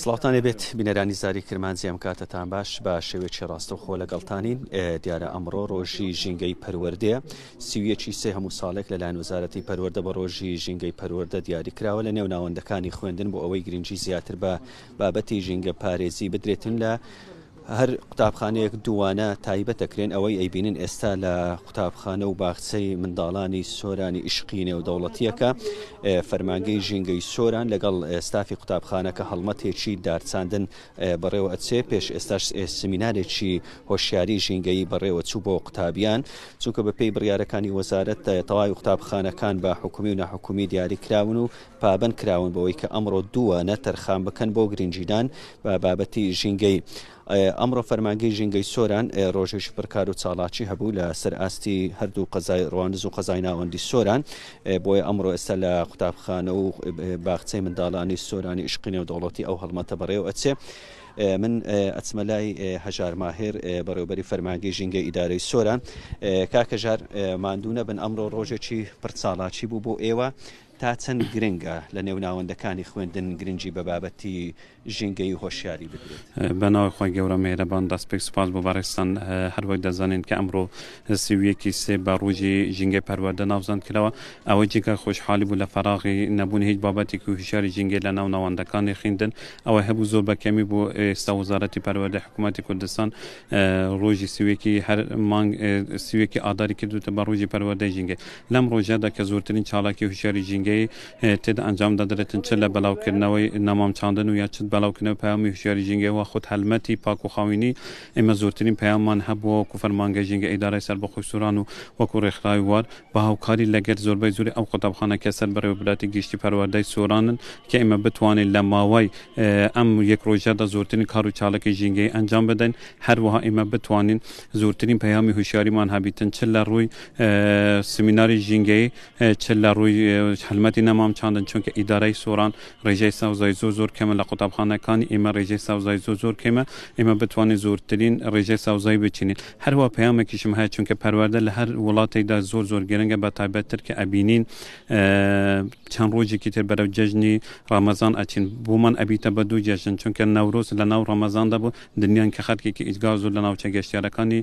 سڵاوتانێ بێت بینەرانی زاری کرمانجی ئەم کاتەتان باش بە شێوێکی ڕاستەوخۆ لەگەڵتانین دیارە ئەمڕۆ ڕۆژی ژینگەی پەروەردەیە سیویەکی سێ هەموو ساڵێک لەلایەن وزارەتی پەروەەردە بە ڕۆژی ژینگەی پەروەەردە دیاری کراوە لە نێو ناوەندەکانی خوێندن بۆ ئەوەی گرنگجی زیاتر بە بابەتی ژینگە پارێزی بدرێتن لە هەر قوتابخانەیەک دووانە تایبەتە کرێن، ئەوەی ئەیبینن ئێستا لە قوتابخانە و باخچەی منداڵانی سۆرانی ئیشقی نێودەوڵەتییەکە، فەرمانگەی ژینگەی سۆران لەگەڵ ستافی قوتابخانەکە هەڵمەتێکی دارچاندن بەڕێوە ئەچێ، پێش ئێستاش سمینارێکی هۆشیاری ژینگەیی بەڕێوە چوو بۆ قوتابیان، چونکە بەپێی بڕیارەکانی وەزارەت تەواوی قوتابخانەکان بە حکومی و ناحکومی دیاری کراون و پابەند کراون بەوەی کە ئەمڕۆ دووانە تەرخان بکەن بۆ گرنگیدان بە بابەتی ژینگەی ئەمڕۆ فەرمانگەی ژینگەی سۆران ڕۆژێکی پرکار و چاڵاکی هەبوو لە سەر ئاستی هەردوو قەزای ڕواندز و قەزای ناوەندی سۆران بۆیە ئەمڕۆ ئێستا لە قوتابخانە و باخچەی منداڵانی سۆرانی عشقی نێودەوڵەتی ئەو هەڵمەتە بەڕێو ئەچێ من ئەچمە لای هەژار ماهێر بەڕێوبەری فەرمانگەی ژینگە ئیدارەی سۆران کاکەژار ماندوو نەبن ئەمڕۆ ڕۆژێکی پرچاڵاچی بوو بۆ ئێوە تا چەند گرنگە لە نێو ناوەندەکانی خوێندن گرنگی بە بابەتی ژینگەیی و هۆشیاری بدرێت؟ بە ناوی خوای گەورە مێهرەبان دەست پێک سوپاس بۆ بەڕێزتان هەر وەک دەزانین کە ئەمڕۆ سی و یەک ی سێ بە ڕۆژی ژینگەی پەروەردە ناوزەند کراوە ئەوەی جێگای خۆشحالی بوو لە فەراغی نەبوونی هیچ بابەتێکی هوشیاری ژینگەی لە ناو ناوەندەکانی خیندن ئەوەی هەبوو زۆر بە کەمی بوو ئێستا وەزارەتی پەروەردەی حکوومەتی کوردستان ڕۆژی سی و یەک ی هەر مانگ سی و یەک ی ئاداری کردووتە بە ڕۆژی پەروەردەی ژینگەی لەم ڕۆژەدا کە زۆرترین چالاکی هوشیاری ژینگەیی تێدا ئەنجام دەدرێتن چ لە بەلاوکردنەوەی نەمام چاندن و یا چ بەلاوکردنەوەی پەیامی هوشیاری ژینگەیی و خود هەلمەتی پاک و خاوینی ئێمە زۆرترین پەیاممان هەبووە وەکو فەرمانگەی ژینگە ئیدارەی سەربەخۆی سۆران و وەکو ڕێکخراوی وار بە هاوکاری لەگەر زۆربەی زۆری ئەو قوتابخانە کە سەر بەڕێوەبراتی گشتی پەروەردەی سۆرانن کە ئێمە بتوانین لە ماوەی ئەم یەک ڕۆژەدا زۆرترین کار و چالاکی ژینگەیی ئەنجام بدەین هەروەها ئێمە بتوانین زۆرترین پەیامی هوشیاریمان هەبیتن چ لە ڕووی سمیناری ژینگەیی چ لە ڕووی هەلمەتی نەمام چاندن چونکە ئیدارەی سۆران ڕێژەی سەوزای زۆر زۆر کەمە لە قوتابخانەکانی ئێمە ڕێژەی سەوزای زۆر زۆر کەمە ئێمە بتوانین زۆرترین ڕێژەی سەوزای بچینین هەروە پەیامێکیشم هەیە چونکە پەروەردە لە هەر وڵاتێکدا زۆر زۆر گرنگە بە تایبەتتر کە ئەبینین چەند ڕۆژێکی تر بەرەو جەژنی ڕامەزان ئەچین بۆمان ئەبیتە بە دوو جەژن چونکە نەورۆز لە ناو ڕەمەزاندا بۆ دنیان کە خەرکێکی ئیزگار زۆر لە ناوچە گەشتیارەکانی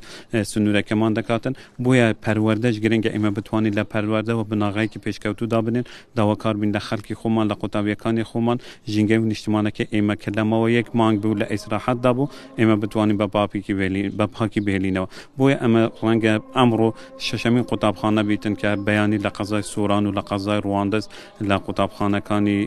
سنوورەکەمان دەکاتن بۆیە پەروەردەش گرنگە، ئێمە بتوانین لە پەروەردەوە بناغەیەکی پێشکەوتوو دابنێین، داواکار بین لە خەڵکی خۆمان، لە قوتابییەکانی خۆمان، ژینگەی و نیشتمانەکەی ئێمە کە لە ماوەی یەک مانگ بوو لە ئیسراحەتدا بوو، ئێمە بتوانین بە پاپیکی بهێلین، بە پاکی بهێلینەوە. بۆیە ئەمە ڕەنگە ئەمڕۆ شەشەمین قوتابخانە بیتن کە بەیانی لە قەزای سۆران و لە قەزای ڕواندز لە قوتابخانەکانی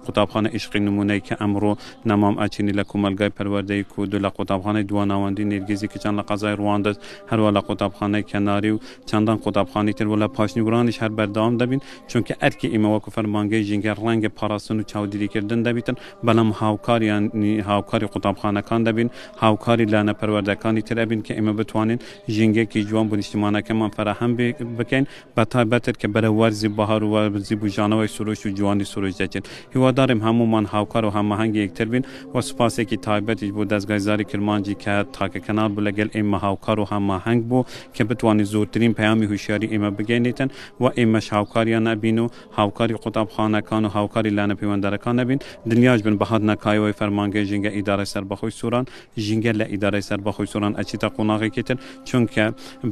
قوتابخانە ئیشقی نموونەیی کە ئەمڕۆ نەمام ئەچینی لە کۆمەڵگای پەروەردەیی کۆدو لە قوتابخانەی دواناوەندی نێرگیزی کچان لە قەزای ڕواندز هەروا لە قوتابخانەی کەناری و چەندان قوتابخانەی تر و لە پاشنیوورانیش هەر بەردەوام دەبین، چونکە ئەرکی ئیمە وەکو فەرمانگەی ژینگە ڕەنگە پاراستن و چاودیریکردن دەبیتن، بەلام هاوکاریانی هاوکاری قوتابخانەکان دەبین، هاوکاری لانە پەروەردەکانی تر ئەبین کە ئیمە بتوانین ژینگەیەکی جوان بو نیشتیمانەکەمان فەراهەم بکەین، بە تایبەتر کە بەرەو وەرزی بەهار و وەرزی بووژانەوەی سروشت و جوانی سروشت دەچین. هیواداریم هەموومان هاوکار و هەماهەنگی یەکتر بین و سوپاسێکی تایبەتیش بۆ دەزگای زاری کرمانجی کە تاکە کەناڵ بوو لەگەل ئێمە هاوکار و هەماهەنگ بوو کە بتوانێت زۆرترین پەیامی هوشیاری ئێمە بگەینێتن و ئێمەش هاوکاریان ئەبین و هاوکاری قوتابخانەکان و هاوکاری لانە پەیوەندارەکان ئەبین. دڵنیاش بن بە هاتنە کایەوەی فەرمانگەی ژینگە ئیدارەی سەربەخۆی سۆران، ژینگە لە ئیدارەی سەربەخۆی سۆران ئەچیتە قۆناغێکی تر، چونکە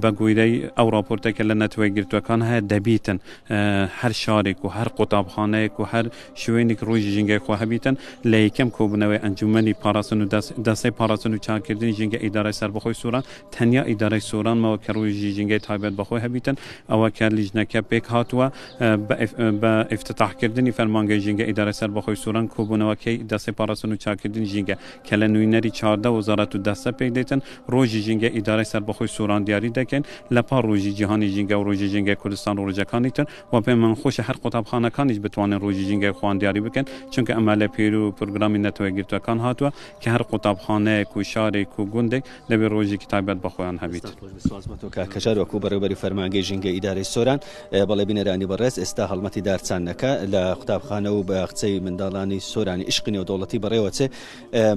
بە گویرەی ئەو ڕاپۆرتەی کە لە نەتەوە یەکگرتووەکان هەیە دەبیتن هەر شارێک و هەر قوتابخانەیەک و هەر شوێنیک ڕووژی ژینگەی خۆ هەبیتن لە یەکەم کۆبوونەوەی ئەنجوومەنی پاراستن و دەستەی پاراستن و چاککردنی ژینگە ئیدارەی سەربەخۆی سۆران تەنیا ئیدارەی سۆران ماوە کە ڕووژی ژینگەی تایبەت بە خۆی هەبیتن ئەوە کە لیژنەکە پێک هاتووە بە ئیفتتاحکردنی فەرمانگەی ژینگە ئیدارەی سەربەخۆی سۆران کۆبوونەوەکەی دەستەی پاراستن و چاککردنی ژینگە کە لە نوینەری چاردە وەزارەت و دەستە پێک دێتن، ڕۆژی ژینگەی ئیدارەی سەربەخۆی سۆران دیاری دەکەین، لە پاڵ ڕۆژی جیهانی ژینگە و ڕۆژی ژینگەی کوردستان و ڕۆژەکانی تر، وە پێ من خۆشە هەر قوتابخانەکانیش بتوانن ڕۆژی ژینگەی خۆیان دیاری بکەن، چونکە ئەمە لە پێرو و پرۆگرامی نەتەوە یەکگرتووەکان هاتووە کە هەر قوتابخانەیەک و شارێک و گوندێک دەبێت ڕۆژێکی تایبەت بە خۆیان هەبیت کەچار وەکو بەڕێوبەری فەرمانگەی ژینگە ئیدارەی سۆران بەڵێ بینەرانی بەڕێز ئێستا هەڵمەتی دارچانەکە لە قوتابخانە و بە قچەی منداڵانی سۆرانی عشقی نێو دەوڵەتی بەڕێوەچێ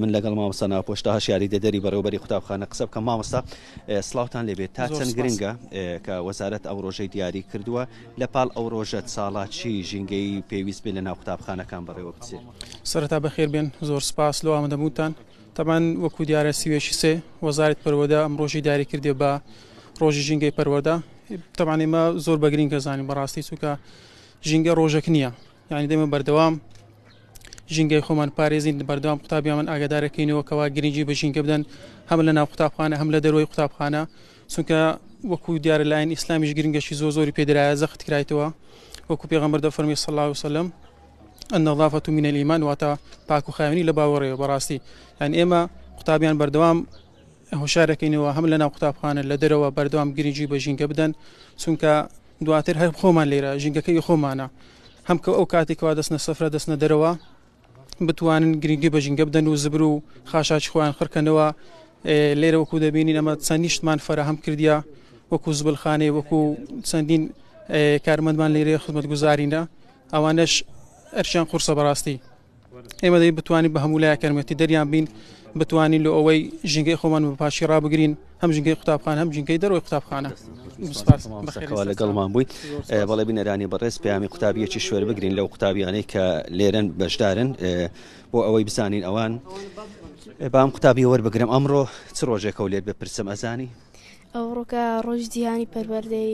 من لەگەڵ مامۆستا ناپۆشتا هەشیاری دەدەری بەڕێوبەری قوتابخانە قسە بکەم مامۆستا سلااوان لێبێت تا چەند گرنگە کە وەزارەت ئەو ڕۆژەی دیاری کردووە لە پاڵ ئەو ڕۆژە ساڵاچی ژینگەی پێویست بێ لە ناو قوتابخانەکان بەڕێوە بچێت سەرتا بەخێر بێن زۆر سپاس لەوامەدەبووتان تەبان وەکو دیارە سی و یەکی سێ وەزارەت پەروەدە ئەم ڕۆژی داری کردێ بە ڕۆژی ژینگەی پەروەدە تەبان ئێمە زۆر بەگرین کە زانین بەڕاستی چووکە ژینگە ڕۆژەک نییە یعنی دێمە بەردەوام ژینگەی خۆمان پارێزین بەردەوام قوتابیان ئاگادارەکەینەوە کەوا گرنگی بە ژینگە بدەن هەم لە ناو قوتابخانە هەم لە دەروی قوتابخانە چونکە وەکو دیارە لاین ئیسلامیش گرنگەشی زۆ زۆری پێدرایە زەخت کرایتەوە وەکو پێغەمبەر دەفەرمی سەڵاو سەلم النظافة من الإيمان واتە پاک و خاوێنی لە باوەڕێ بەڕاستی یان ئێمە قوتابیان بەردەوام هۆشارەکەینەوە هەم لەناو قوتابخانە لە دەرەوە بەردەوام گرنگی بە ژینگە بدەن چونکە دواتر هەر خۆمان لێرە ژینگەکەی خۆمانە هەم کە ئەو کاتێکەوە دەستنە سەفرە دەستنە دەرەوە بتوانن گرنگی بە ژینگە بدەن و زبر و خاشاچ خۆیان خڕکەنەوە لێرە وەکو دەبینین ئەمە چەند نیشتمان فراهەم کردیا وەکو زبلخانەی وەکو چەندین کارمەندمان لێرە خزمەت گوزارینە ئەوانەش ئەرکیان قورسە بەڕاستی ئێمە دەی بتوانین بە هەموو لای کەرمەتی دەریان بین بتوانین لە ئەوەی ژینگەی خۆمان بە پاشی ڕابگرین هەم ژینگەی قوتابخان هەم ژینگەی دەرەوەی قوتابخانە بەخێرەوە لەگەڵمان بووی بەڵێ بینەرانی بەڕێز پەیامی قوتابیەکی شوێر بگرین لەو قوتابیانەی کە لێرەن بەشدارن بۆ ئەوەی بزانین ئەوان بام قوتابی وەربگرم ئەمڕۆ چ ڕۆژێکەوە لێت بپرسم ئەزانی ئەو ڕۆکە ڕۆژ جیهانی پەروەردەی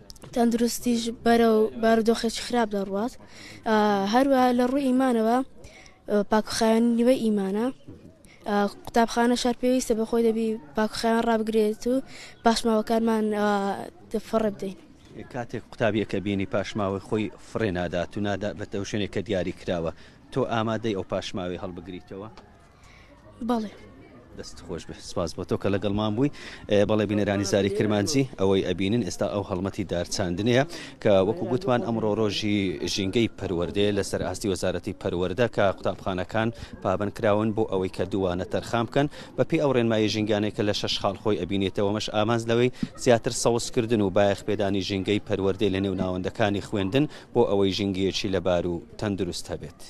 تەندروستیش بەرەو بارودۆخێکی خراپ دەڕوات هەروە لە ڕووی ئیمانەوە پاکخایەن نیوە ئیمانە قوتابخانە شار پێویستە بە خۆی دەبی پاکخیان ڕابگرێت و پاشماوەکانمان فڕ بدەین کاتێک قوتابیەکە بینی پاشماوەی خۆی فڕێ نادات و نادا بەتەو شوێنێکە دیاری کراوە تۆ ئامادەی ئەو پاشماوی هەڵبگریتەوە بەڵێ. دەست خۆش بێ سپاس بۆ تۆ کە لەگەڵمان بووی بەڵێ بینەرانی زاری کرمانجی ئەوەی ئەبینن ئێستا ئەو هەڵمەتی دارچاندنەیە کە وەکو گوتمان ئەمڕۆ ڕۆژی ژینگەی پەروەردەیە لەسەر ئاستی وەزارەتی پەروەەردە کە قوتابخانەکان پابند کراون بۆ ئەوەی کە دووانە تەرخان بکەن بەپی ئەو ڕێنمایی ژینگانەیە کە لە شەش خاڵ خۆی ئەبینێتەوەمەش ئامانز لەوەی زیاتر سەوزکردن و بایەخ پێدانی ژینگەی پەروەردەی لە نێو ناوەندەکانی خوێندن بۆ ئەوەی ژینگەیەکی لەبار و تەندروست هەبێت.